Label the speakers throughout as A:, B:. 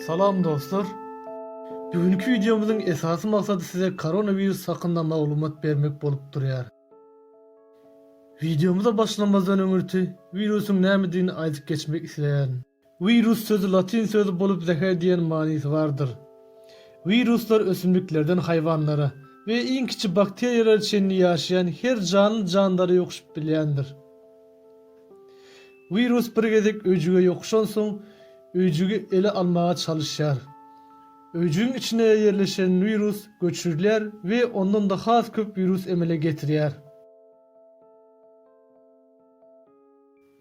A: Salam dostlar. Bu günki wideomyzyň esasy maksady size koronawirus hakynda maglumat bermek bolup durýar. Wideomyza başlamazdan öňürti wirusyň nämedigini aýdyp geçmek isleýärin. Wirus sözi latyn sözi bolup zäher diýen manysy bardyr. Wiruslar ösümliklerden haýwanlara we iň kiçi bakteriýalara çenli ýaşaýan her janly jandara ýokuşyp bilýändir. Wirus bir gezek öýjüge ýokuşansoň öýjügi ele almaga çalyşýar. Öýjügiň içine ýerleşen wirus göçürilýär we ondan-da has köp wirus emele getirýär.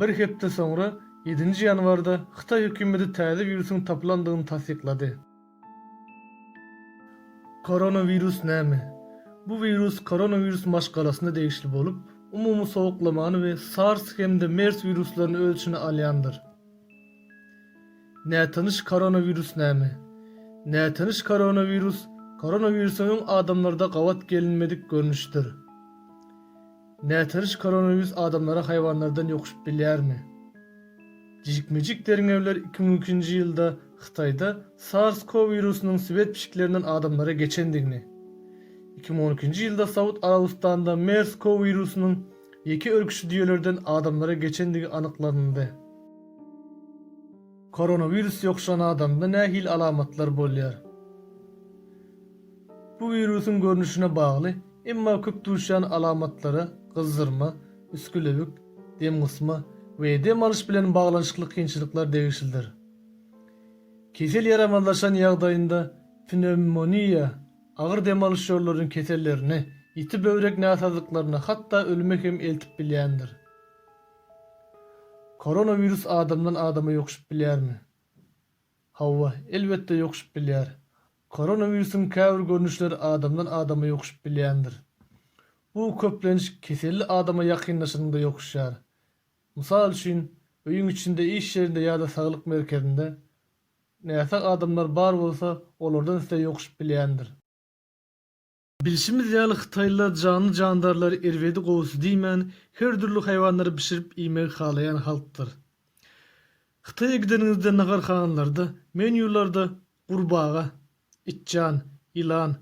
A: Bir hepde soňra, ýedinji ýanwarda Hytaý hökümeti täze wirusyň tapylandygyny tassyklady. Koronawirus näme? Bu wirus koronawirus maşgalasyna degişli bolup, umumy sowuklamany we SARS hem-de MERS wiruslaryny öz içine alýandyr. Nätanyş koronawirus näme? Nätanyş koronawirus koronawirusyň öň adamlarda gabat gelinmedik görnüşidir. Nätanyş koronawirus adamlara haýwanlardan ýokuşyp bilýärmi? Jikme-jik derňewler iki müň ikinji ýylda Hytaýda SARS CoV wirusynyň swet pişiklerinden adamlara geçendigini, iki müň on ikinji ýylda Saud Arabystanda MERS CoV wirusynyň ýeke örküçi düýelerden adamlara geçendigi anyklanyldy. Koronawirus ýokuşan adamda nähili alamatlar bolýar? Bu wirusyň görnüşine bagly, emma köp duşýan alamatlara gyzzyrma, üsgülewik, dem gysma we dem alyş bilen baglanyşykly kynçylyklar degişlidir. Kesel ýaramazlaşan ýagdaýynda pnewmoniýa, agyr dem alyş ýollarynyň kesellerine, ýiti böwrek näsazlyklaryna hatda ölüme hem eltip bilýändir. Koronawirus adamdan adama ýokuşyp bilýärmi? Hawa, elbetde ýokuşyp bilýär. Koronawirusyň käbir görnüşleri adamdan adama ýokuşyp bilýändir. Bu köplenç keselli adama ýakynlaşanyňda ýokuşýar. Mysal üçin, öýüň içinde, iş ýerinde ýa-da saglyk merkezinde näsag adamlar bar bolsa, olardan size ýokuşyp bilýändir. Bilşimiz ýaly hytaýlylar janly-jandarlary erbedi gowusy diýmän, her dürli haýwanlary bişirip iýmegi halaýan halkdyr. Hytaýa gideniňizde naharhanalarda, menýularda gurbaga, itjan, ýylan,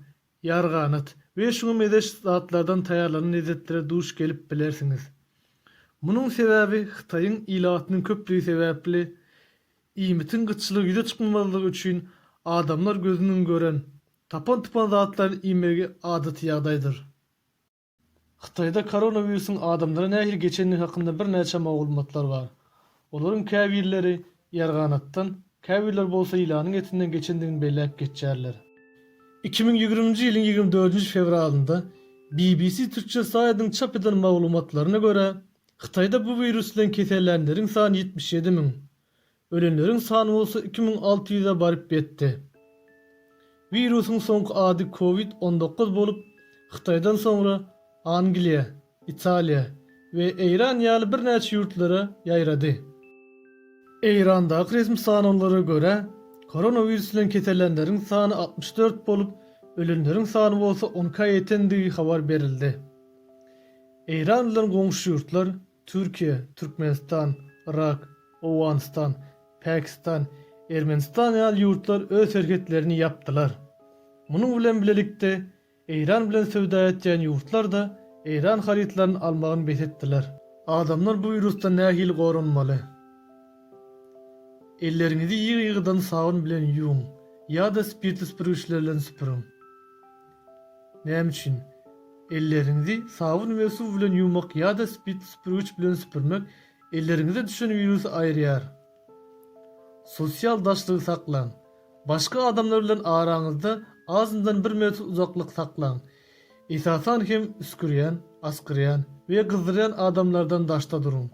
A: ýarganat we şuňa mezeş zatlardan taýýarlanan lezzetlere duş gelip bilersiňiz. Munuň sebäbi Hytaýyň ilatynyň köplügi sebäpli iýmitiň gytçylygy ýüze çykmamazlygy üçin adamlar gözüniň gören Tapan-tupan zatlaryny iýmegi adaty ýagdaýdyr. Hytaýda koronawirusyň adamlara nähili geçendigi hakynda birnäçe magulmatlar bar. Olaryň käbirleri ýarganatdan, käbirleri bolsa ýylanyň etinden geçendigini belläp geçýärler. Iki müň ýigriminji ýylyň ýigrimi dördünji fewralynda BBC Türkçe saýdynyň çap eden maglumatlaryna görä, Hytaýda bu wirus bilen kesellänleriň sany ýetmiş ýedi müň, Ölenleriň sany bolsa iki müň alty ýüze baryp ýetdi. Wirusyň soňky ady Covid on dokuz bolup, Hytaýdan soňra Angliýa, Italiýa we Eýran ýaly birnäçe ýurtlara ýaýrady. Eýrandaky resmi sanawlara görä, koronawirus bilen kesellänleriň sany altmyş dört bolup, ölenleriň sany bolsa onka ýetendigi habar berildi. Eýran bilen goňşy ýurtlar Türkiýe, Türkmenistan, Yrak, Owganystan, Pakistan, Ermenistan ýaly ýurtlar öz serhetlerini ýapdylar. Munuň bilen bilelikde, Eýran bilen söwda etýän ýurtlar-da Eýran harytlaryny almagyny bes etdiler. Adamlar bu wirusdan nähili goranmaly? Elleriňizi ýygy-ýygydan sabyn bilen ýuwuň ýa-da spirtli süpürgiçler bilen süpüriň. Näme üçin? Elleriňizi sabyn we suw bilen ýuwmak ýa-da spirtli süpürgiç bilen süpürmek elleriňize düşen wirusy aýyrýar. Sosial daşlygy saklaň. Başga adamlar bilen araňyzda azyndan bir metr uzaklyk saklaň. Esasan hem üsgürýän, asgyrýan we gyzdyrýan adamlardan daşda duruň.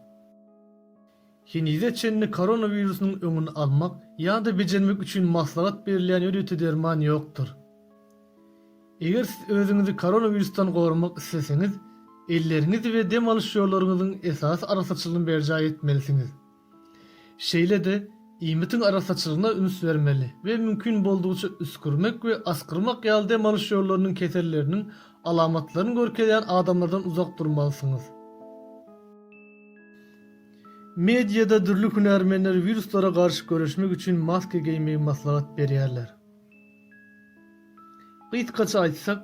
A: Henize çenli koronawirusynyň öňüni almak ýa-da bejermek üçin maslahat berilýän ýörite derman ýokdur. Eger siz özüňizi koronawirusdan goramak isleseňiz, elleriňizi we dem alyş ýollaryňyzyň esasy arassaçylygyny berjaý etmelisiňiz. Şeýle-de, iýmitiň arassaçylygyna üns bermeli we mümkin boldugyça üsgürmek we asgyrmak ýaly dem alyş ýollarynyň keselleriniň alamatlaryny görkezýän adamlardan uzak durmalysyňyz. Mediada dürli hünärmenler wiruslara garşy göreşmek üçin maska geýmegi maslahat berýärler. Gysgaça aýtsak,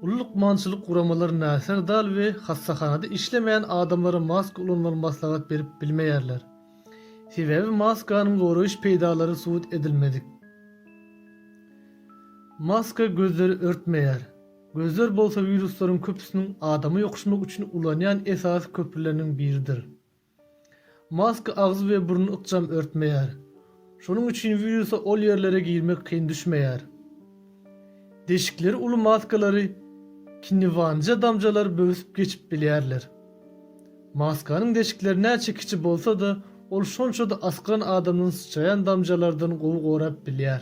A: uly lukmançylyk guramalary näser dal we hassahanada işlemeýän adamlara maska ulanmagy maslahat berip bilmeýärler. Sebäbi maskanyň goraýyş peýdalary subut edilmedik. Maska gözleri örtmeýär. Gözler bolsa wiruslaryň köpüsiniň adama ýokuşmak üçin ulanýan esasy köprüleriniň biridir. Maska agzy we burny ykjam örtmeýär. Şonuň üçin wirusa ol ýerlere girmek kyn düşmeýär. Deşikleri uly maskalary kinniwanja damjalar böwsüp geçip bilýärler. Maskanyň deşikleri näçe kiçi bolsa-da, ol şonça-da asgyran adamdan syçraýan damjalardan gowy gorap bilýär.